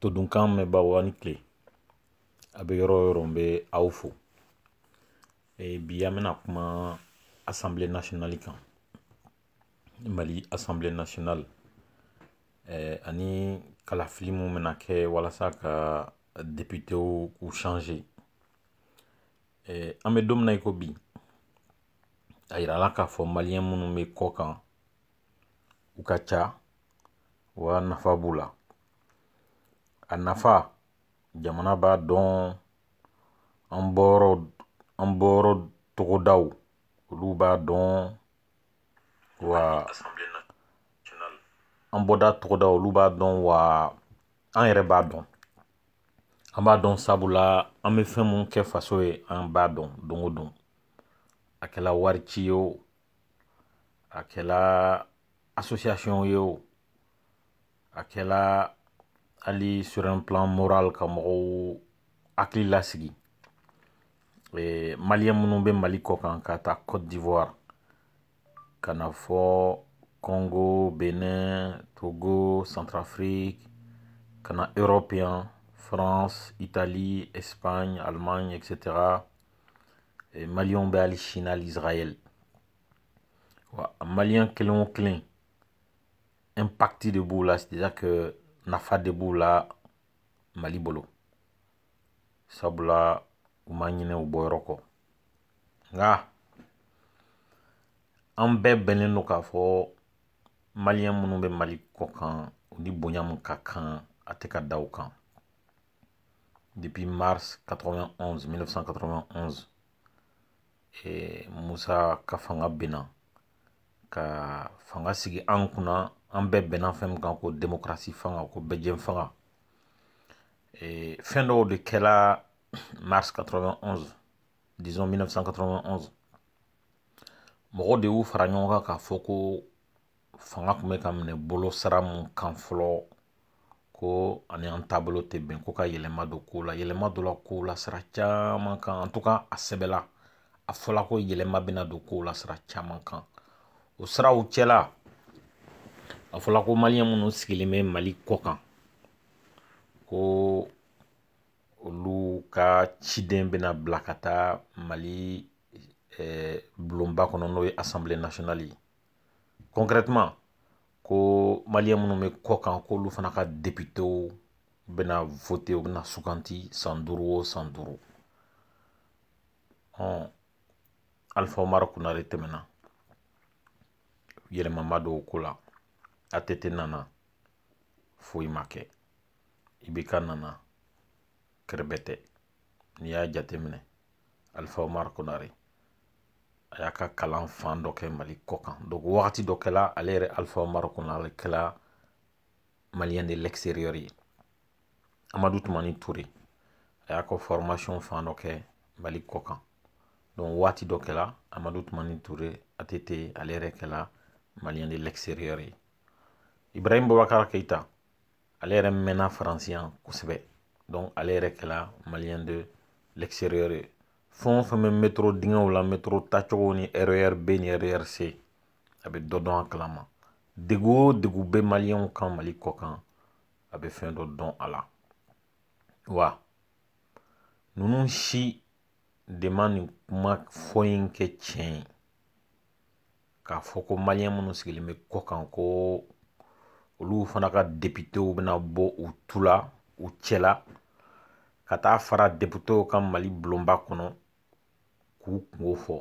todunkan mɛnbaaw aw ni tile a bɛ yɔrɔ o yɔrɔ n bɛ aw fo e, bi an bɛna kuma assemblée nationale kan mali assemblée nationale e, ani kalafili min bɛna kɛ walasa ka depitew k'u changer e, an bɛ don min na i ko bi a yirala k'a fɔ maliyɛn minnu bɛ kɔ kan u ka ca wa nafa b'u la a nafa jamana b'a dɔn an bɔyɔrɔ an bɔyɔrɔ togodaw olu b'a dɔn wa an bɔda togodaw olu b'a dɔn wa an yɛrɛ b'a dɔn an b'a dɔn sabula an bɛ fɛn mun kɛ faso ye an b'a dɔn don o don a kɛla wari ci ye o a kɛla association ye o a kɛla hali sur un plan moral ka mɔgɔw hakili lasigi eh, maliyɛn minnu bɛ mali kɔ kan k'a ta côte d'ivoire ka na fo congo bénin togo centrafrique ka na europe yan france italie espagne allemagne etc eh, maliyɛnw bɛ hali chine hali israël wa maliyɛn kelen o kelen impact de b'u la c'est à dire que nafa de b'u la mali bolo sabula u ma ɲinɛ u bɔyɔrɔ kɔ nka an bɛɛ bɛnnen don k'a fɔ maliyɛn minnu bɛ mali kɔ kan u ni bonya min ka kan a tɛ ka da u kan depuis mars 91 1991 eh, musa ka fanga binna ka fanga sigi an kunna an bɛɛ bɛnna fɛn min kan ko demokarasi fanga ko bɛɛjɛfanga eh, fɛn dɔw de kɛla mars 91 disons 1991 mɔgɔw de y'u fara ɲɔgɔn kan k'a fɔ ko fanga tun bɛ ka minɛ bolo sira mun kan fɔlɔ ko a ni an taabolo tɛ bɛn ko ka yɛlɛma don kow la yɛlɛma donna kow la sira caman kan en tout cas a sɛbɛla a fɔla ko yɛlɛma bɛna don kow la sira caman kan o siraw cɛla a fɔla ko maliyɛn minnu sigilen bɛ mali kɔ kan ko olu ka ciden bɛna bila ka taa mali eh, bulonba kɔnɔ n'o ye assemblée nationale ye concrètement ko maliyɛn minnu bɛ kɔ kan k'olu fana ka depitew bɛna vote u bɛna suganti san duuru o san duuru alifa umaru kunare tɛmɛna yɛlɛma ma don o ko la ATT nana foyi ma kɛ IBK nana kɛrɛbɛtɛ n'i y'a jateminɛ alifa omar konare a y'a ka kalan fan dɔ kɛ mali kɔ kan donc wagati dɔ kɛla ale yɛrɛ alifa omar konare kɛla maliyɛn de l'extérieur ye amadu tumani ture a y'a ka formation fan dɔ kɛ mali kɔ kan donc waati dɔ kɛla amadu tumani ture ATT ale yɛrɛ kɛla maliyɛn de l'extérieur ye ibrahim bobakar keita ale yɛrɛ mɛnna faransi yan kosɛbɛ donc ale yɛrɛ kɛla maliyɛn de l'extérieur ye fɛn o fɛn bɛ metro dingɛw la metro tacogo ni RER B ni RER C a bɛ dɔ dɔn a kalama degu o degu bɛ maliyɛnw kan mali kɔ kan a bɛ fɛn dɔ dɔn a la wa ninnu si de ma nin kuma fɔ in kɛ tiɲɛ ye k'a fɔ ko maliyɛn minnu sigilen bɛ kɔ kan ko olu fana ka depitew bɛna bɔ u tu la u cɛ la ka taa fara depitew kan mali bulonba kɔnɔ k'u kungo fɔ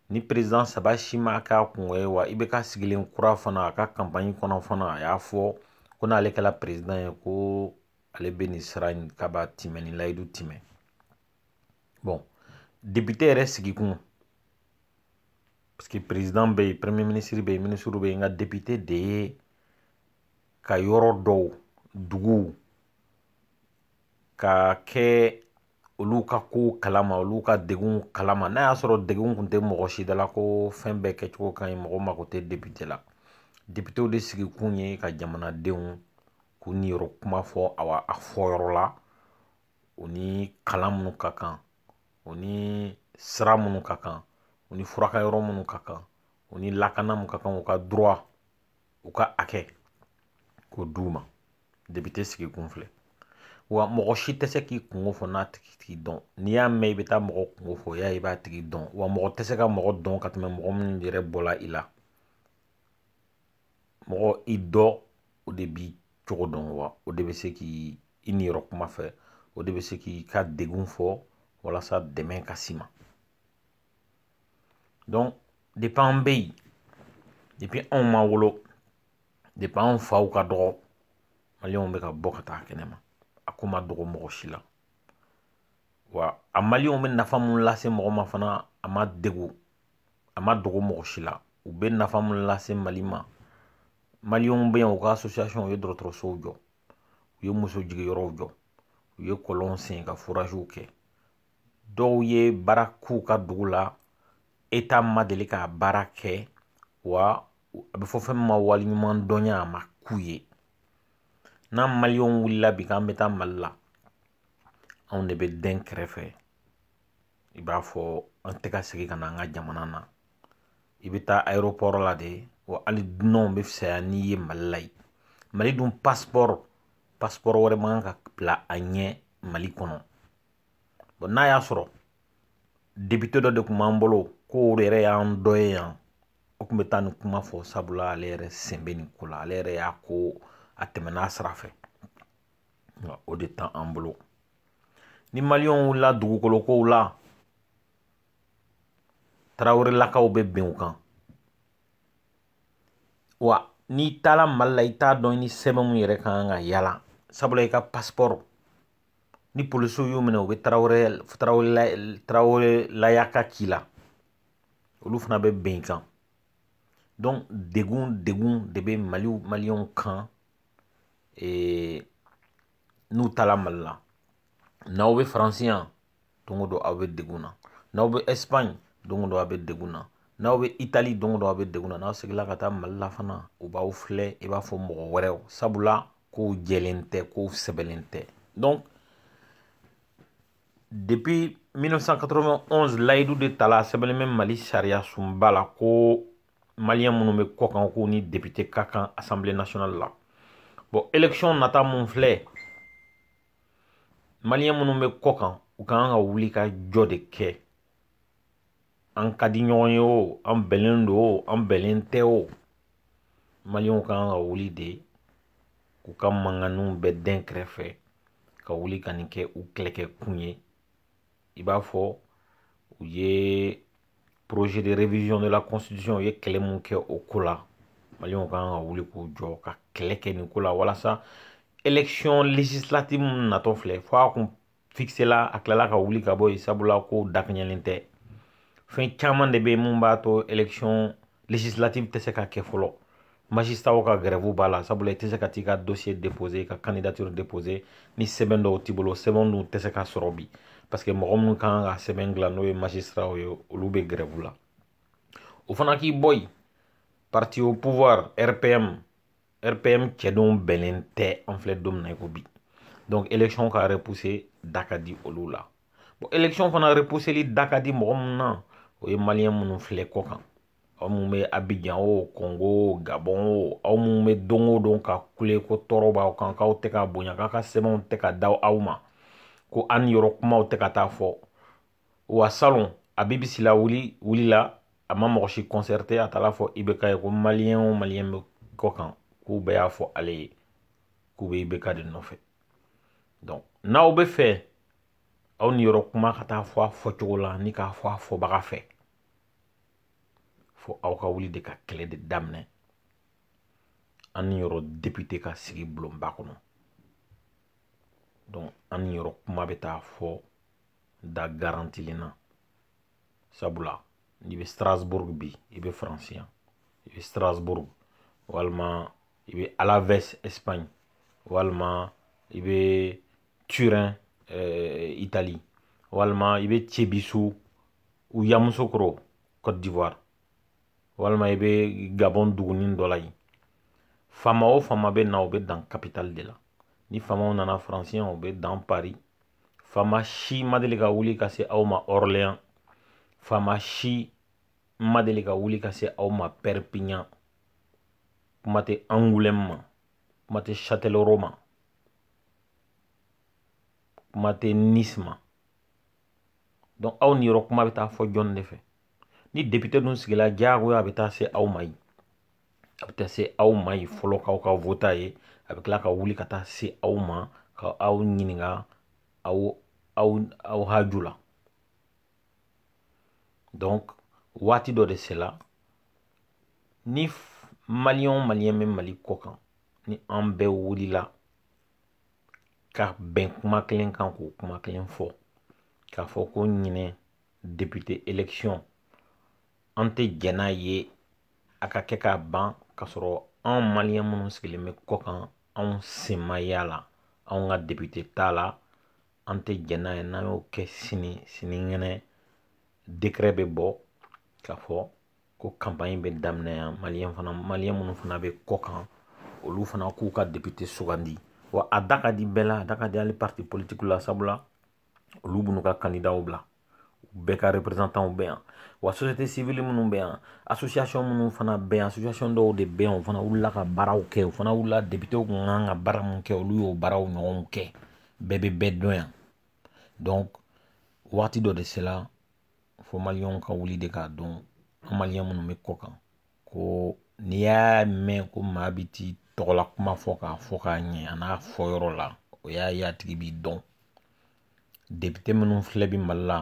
nin perezidan saba si m'a k'a kungo ye wa IBK sigilen kura fana a ka kanpaɲi kɔnɔ fana a y'a fɔ ko n'ale kɛla perezidan ye ko ale bɛ nin sira in k'a b'a timɛ nin layidu timɛ bon depite yɛrɛ sigikun parce que président bɛ yen premier ministre bɛ yen ministre bɛ yen nka député de ye ka yɔrɔ dɔw duguw ka kɛ olu ka kow kalama olu ka degunw kalama n'a y'a sɔrɔ degun kun tɛ mɔgɔ si da la ko fɛn bɛɛ kɛcogo ka ɲi mɔgɔ mako tɛ député la députéw de sigi kun ye ka jamanadenw k'u niyɔrɔ kuma fɔ awa a fɔ yɔrɔ la u ni kalan minnu ka kan u ni sira minnu ka kan u ni furakɛ yɔrɔ minnu ka kan u ni lakana min ka kan u ka droit u ka hakɛ k'o d'u ma depite sigi kun filɛ wa mɔgɔ si tɛ se k'i kungo fɔ n'a tigi t'i dɔn n'i y'a mɛn i bɛ taa mɔgɔ kungo fɔ y'a i b'a tigi dɔn wa mɔgɔ tɛ se ka mɔgɔ dɔn ka tɛmɛ mɔgɔ minnu yɛrɛ bɔla i la mɔgɔ i dɔ o de b'i cogo dɔn wa o de bɛ se k'i niyɔrɔ kuma fɔ o de bɛ se k'i ka degun fɔ walasa dɛmɛ ka s'i ma donc depuis an bɛ yen depuis anw ma wolo depuis anw faw ka dɔgɔ maliyɛnw bɛ ka bɔ ka taa kɛnɛ ma a ko ma dogo mɔgɔ si la wa a maliyɛnw bɛ nafa min lase mɔgɔ ma fana a ma dogo a ma dogo mɔgɔ si la u bɛ nafa mun lase mali ma maliyɛnw bɛ yan u ka association u ye dɔgɔtɔrɔsow jɔ u ye muso jigiyɔrɔw jɔ u ye kɔlɔn sen ka foraziw kɛ dɔw ye baara k'u ka dugu la état ma deli ka baara kɛ wa a bɛ fɔ fɛn min ma waliɲumandɔnya a ma k'u ye n'an maliyɛnw wulila bi k'an bɛ taa mali la anw de bɛ dɛn kɛrɛfɛ i b'a fɔ an tɛ ka segin ka na an ka jamana na i bɛ taa aéroport la de wa hali dunanw bɛ fisaya n'i ye mali la yen mali dun pasipɔrɔ pasipɔrɔ wɛrɛ man kan ka bila a ɲɛ mali kɔnɔ bon n'a y'a sɔrɔ depite dɔ de tun b'an bolo ko o yɛrɛ y'an dɔ ye yan o tun bɛ taa nin kuma fɔ sabula ale yɛrɛ sen bɛ nin ko la ale yɛrɛ y'a ko a tɛmɛn'a sira fɛ nka o de t'an bolo ni maliyɛnw wulila dugukolo kow la tarawelelakaw bɛ bin u kan wa n'i taara mali la i t'a dɔn i ni sɛbɛn mun yɛrɛ ka kan ka yala sabula i ka pasipɔrɔ ni polisiw y'u minɛ u bɛ tarawele tarawele tarawelelaya ka k'i la olu fana bɛ bin i kan donc degun degun de bɛ maliw maliyɛnw kan ee n'u taara mali la n'aw bɛ faransi yan don o don aw bɛ degun na n'aw bɛ ɛsipaɲi don o don aw bɛ degun na n'aw bɛ itali don o don aw bɛ degun na n'aw seginna ka taa mali la fana u b'aw filɛ i b'a fɔ mɔgɔ wɛrɛw sabula kow jɛlen tɛ kow sɛbɛnnen tɛ donc depuis 1991 layidu de tala sɛbɛnnen bɛ mali sariyasunba la ko maliyɛn minnu bɛ kɔkan k'u ni depite ka kan assemblée nationale la bon élection nata mun filɛ maliyɛn minnu bɛ kɔkan u ka kan ka wuli ka jɔ de kɛ an ka di ɲɔgɔn ye o an bɛnnen don o an bɛnnen tɛ o maliyɛnw ka kan ka wuli de k'u ka manganiw bɛɛ dɛn kɛrɛfɛ ka wuli ka nin kɛ u kɛlɛkɛkun ye i b'a fɔ u ye projet de révision de la constitution u ye kɛlɛ mun kɛ o ko la maliyɛnw kan ka wuli k'u jɔ ka kɛlɛ kɛ nin ko la walasa élection législative mun natɔ filɛ fo a kun fixela a tilala ka wuli ka bɔ yen sabula ko dakɛɲɛlen tɛ fɛn caman de bɛ yen mun b'a to election législative tɛ se ka kɛ fɔlɔ magistraw ka grève b'a la sabula i tɛ se ka t'i ka dossier déposer ka candidature déposer ni sɛbɛn dɔw t'i bolo sɛbɛn dun tɛ se ka sɔrɔ bi parce que mɔgɔ minnu kan ka sɛbɛn dilan n'o ye magistraw ye olu bɛ grève la o fana k'i bɔ yen parti au pouvoir rpm rpm cɛdenw bɛnnen tɛ an filɛ don min na i ko bi donc élection ka repousser da ka di olu la bon élection fana repousseli da ka di mɔgɔ minnu na o ye maliyɛn minnu filɛ kɔ kan aw minnu bɛ abijan o kongo o gabɔn o aw minnu bɛ don o don ka kule ko tɔɔrɔ b'aw kan k'aw tɛ ka bonya k'aw ka sɛbɛnw tɛ ka di aw ma ko an yɔrɔ kumaw tɛ ka taa fɔ wa salon habib sylla wuli wulila a ma mɔgɔ si concerté a taara fɔ ibk ye ko maliyɛn o maliyɛn bɛ kɔ kan k'u bɛɛ y'a fɔ ale ye k'u bɛ ibk de nɔfɛ donc n'aw b'a fɛ aw niyɔrɔ kuma ka taa fɔ a fɔcogo la ni k'a fɔ a fɔbaga fɛ fo aw ka wuli de ka kɛlɛ de daminɛ an niyɔrɔ depite ka sigi bulonba kɔnɔ donc an niyɔrɔ kuma bɛ taa fɔ da garantilen na sabula n'i bɛ strasbourg bi i bɛ faransi yan i bɛ strasbourg walima i bɛ alaves espagne walima i bɛ turin eh, italie walima i bɛ cebisu ou yamusokoro côte d'ivoire walima i bɛ gabon dugunin dɔ la yen faama o faama bɛ na o bɛ dan capitale de la ni faamaw nana faransi yan u bɛ dan paris faama si ma deli ka wuli ka se aw ma orléans faama si ma deli ka wuli ka se aw ma perpignan kuma tɛ angoulême ma kuma tɛ châtellerault ma kuma tɛ nice ma donc aw niyɔrɔ kuma bɛ taa fɔ jɔn de fɛ ni député dun sigila diyagoya a bɛ taa se aw ma yen a bɛ taa se aw ma yen fɔlɔ k'aw ka vote a ye a bɛ tila ka wuli ka taa se aw ma ka aw ɲininka aw aw aw haju la donc waati dɔ de sela ni maliyɛn o maliyɛn bɛ mali kɔ kan ni an bɛɛ wulila ka bɛn kuma kelen kan k'o kuma kelen fɔ k'a fɔ ko ɲinɛ depite élection an tɛ jɛn n'a ye a ka kɛ ka ban k'a sɔrɔ anw maliyɛn minnu sigilen bɛ kɔ kan anw sen ma y'a la anw ka depite t'a la an tɛ jɛn n'a ye n'an y'o kɛ sini sinikɛnɛ dekrɛ bɛ bɔ k'a fɔ ko kanpaɲi bɛ daminɛ yan maliyɛn fana maliyɛn minnu fana bɛ kɔ kan olu fana k'u ka depite sugandi wa a da ka di bɛɛ la a da ka di hali parti politiki la sabula olu b'u ka kandidaw bila bɛɛ ka représentantw bɛ yan wa société civile minnu bɛ yan association minnu fana bɛ yan association dɔw de bɛ yan o fana wulila ka baaraw kɛ o fana wulila depitew kun kan ka baara min kɛ olu y'o baaraw ɲɔgɔnw kɛ bɛɛ bɛ bɛɛ dɔn yan donc waati dɔ de sela fo maliyɛnw ka wuli de k'a dɔn an maliyɛn minnu bɛ kɔ kan ko n'i y'a mɛn ko maa bi t'i tɔgɔla kuma fɔ k'a fɔ k'a ɲɛ an'a fɔyɔrɔ la o y'a ye a tigi b'i dɔn depite minnu filɛ bi mali la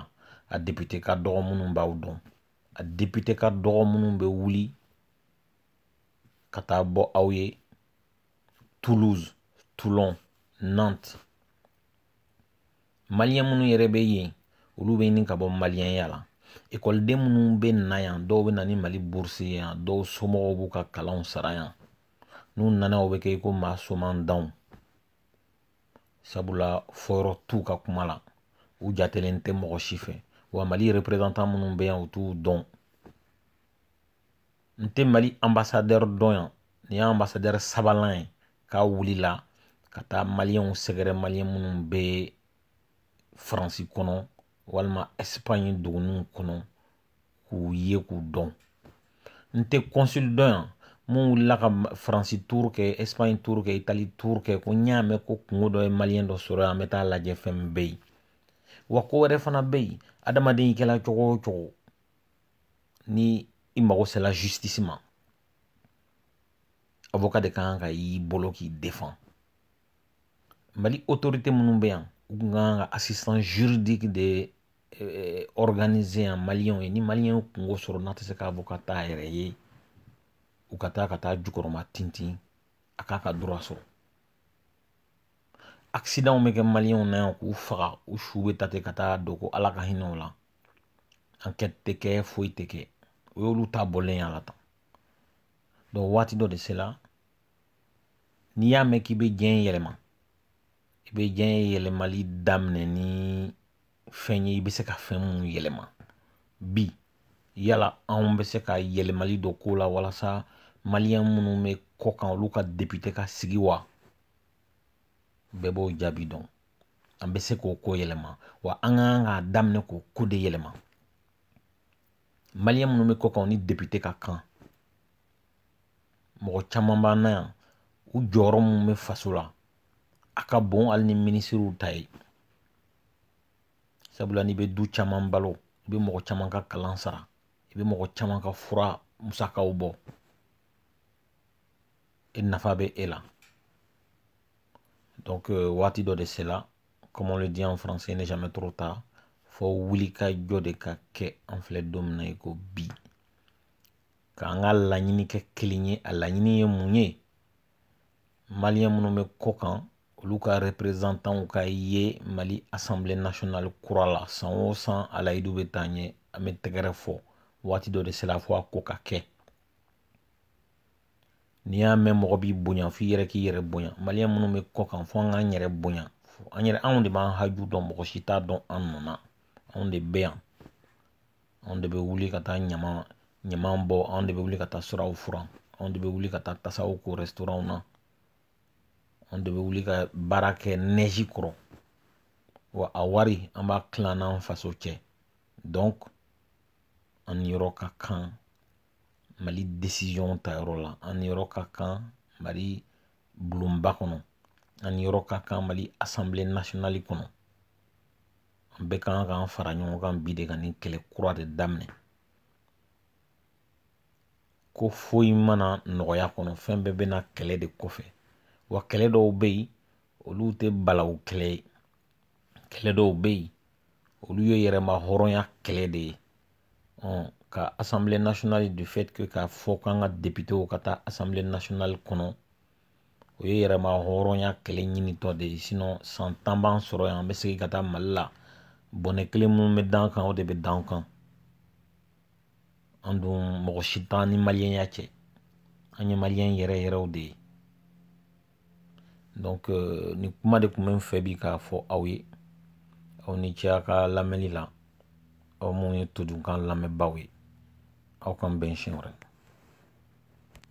a depite ka dɔgɔ minnu b'aw dɔn a depite ka dɔgɔ minnu bɛ wuli ka taa bɔ aw ye toulouse toulon nantes maliyɛn minnu yɛrɛ bɛ yen olu bɛ ɲini ka bɔ maliyɛnya la ekɔliden minnu bɛ na yan dɔw bɛ na ni mali burusi ye yan dɔw somɔgɔw b'u ka kalanw sara yan n'u nana yan u bɛ kɛ i ko maa somaantanw sabula fɔyɔrɔ t'u ka kuma la u jatelen tɛ mɔgɔ si fɛ wa mali reperezantan minnu bɛ yan u t'u dɔn n tɛ mali anbasadɛri dɔn yan nin ye anbasadɛri sabanan ye k'a wulila ka taa maliyɛnw sɛgɛrɛ maliyɛn minnu bɛ faransi kɔnɔ walima ɛsipaɲi duguninw kɔnɔ k'u ye k'u dɔn n tɛ kɔnsili dɔn yan min wulila ka faransi turu kɛ ɛsipaɲi turu kɛ itali turu kɛ ko n y'a mɛn ko kunko dɔ ye maliyɛn dɔ sɔrɔ yan an bɛ taa lajɛ fɛn min bɛ yen wa ko wɛrɛ fana bɛ yen adamaden i kɛla cogo o cogo ni i mago sela justice ma avocat de ka kan ka y'i bolo k'i defan mali autorité minnu bɛ yan u tun ka kan ka assistance juridique de eh, organiser yan maliyɛnw ye ni maliyɛn ye kunko sɔrɔ n'a tɛ se ka avocat t'a yɛrɛ ye u ka taa ka taa jukɔrɔmatintin a k'a ka droit sɔrɔ accidentw bɛ kɛ maliyɛnw na yan k'u faga u su bɛ ta ten ka taa don ko ala ka hinɛ o la ankɛti tɛ kɛ foyi tɛ kɛ o y'olu ta bɔlen y'a la tan donc waati dɔ de sela n'i y'a mɛn k'i bɛ diɲɛ yɛlɛma i bɛ diɲɛ yɛlɛmali daminɛ ni fɛn ye i bɛ se ka fɛn minnu yɛlɛma bi yala anw bɛ se ka yɛlɛmali dɔ k'o la walasa maliyɛn minnu bɛ kɔ kan olu ka depite ka sigi wa bɛɛ b'o jaabi dɔn an bɛ se k'o ko yɛlɛma wa an ka kan k'a daminɛ k'o ko de yɛlɛma maliyɛn minnu bɛ kɔ kan ni depite ka kan mɔgɔ caman b'an na yan u jɔyɔrɔ min bɛ faso la a ka bon hali ni minisiriw ta ye sabula n'i bɛ du caman balo i bɛ mɔgɔ caman ka kalan sara i bɛ mɔgɔ caman ka fura musakaw bɔ e nafa bɛ e la donc euh, waati dɔ de sela comme on le dit en français n'est jamais trop tard fo wulikajɔ de ka kɛ an filɛ don min na i ko bi k'an ka laɲini kɛ kelen ye a laɲini ye mun ye maliyɛn minnu bɛ kɔ kan olu ka reprezantanw ka ye mali asanbile nasionali kura la san o san a layidu bɛ ta an ye an bɛ tɛgɛrɛ fɔ waati dɔ de sela fo a ko ka kɛ n'i y'a mɛn mɔgɔ b'i bonya f'i yɛrɛ k'i yɛrɛ bonya maliyɛn minnu bɛ kɔ kan fo an k'an yɛrɛ bonya anw de b'an haju dɔn mɔgɔ si t'a dɔn an nɔ na anw de bɛ yan anw de bɛ wuli ka taa ɲama ɲama bɔ anw de bɛ wuli ka taa siraw furan anw de bɛ wuli ka taa tasaw ko rɛsitoranw na anw de bɛ wuli ka baara kɛ nɛzi kɔrɔ wa a wari an b'a tila an n'an faso cɛ donc an niyɔrɔ ka kan mali desiziyɔn ta yɔrɔ la an niyɔrɔ ka kan mali bulonba kɔnɔ an niyɔrɔ ka kan mali asanbile nasionali kɔnɔ an bɛɛ kan k'an fara ɲɔgɔn kan bi de ka nin kɛlɛ kura de daminɛ ko foyi ma na nɔgɔya kɔnɔ fɛn bɛɛ bɛ na kɛlɛ de kɔfɛ wa kɛlɛ dɔw bɛ yen olu tɛ balawu kɛlɛ ye kɛlɛ dɔw bɛ yen olu ye yɛrɛmahɔrɔnya kɛlɛ de ye ka assemblée nationale du fait que k'a fɔ k'an ka députéw ka taa assemblée nationale kɔnɔ o ye yɛrɛmahɔrɔnya kɛlɛ ɲinitɔ de ye sinon san tan b'an sɔrɔ yan an bɛ segin ka taa mali la bɔnɛ kelen min bɛ d'an kan o de bɛ d'an kan an dun mɔgɔ si t'an ni maliyɛnya cɛ an ye maliyɛn yɛrɛ yɛrɛw de ye donc euh, nin kuma de tun bɛ n fɛ bi k'a fɔ aw ye aw ni ce a ka lamɛnni la aw minnu ye todunkan lamɛnbaaw ye aw k'an bɛn siɲɛ wɛrɛ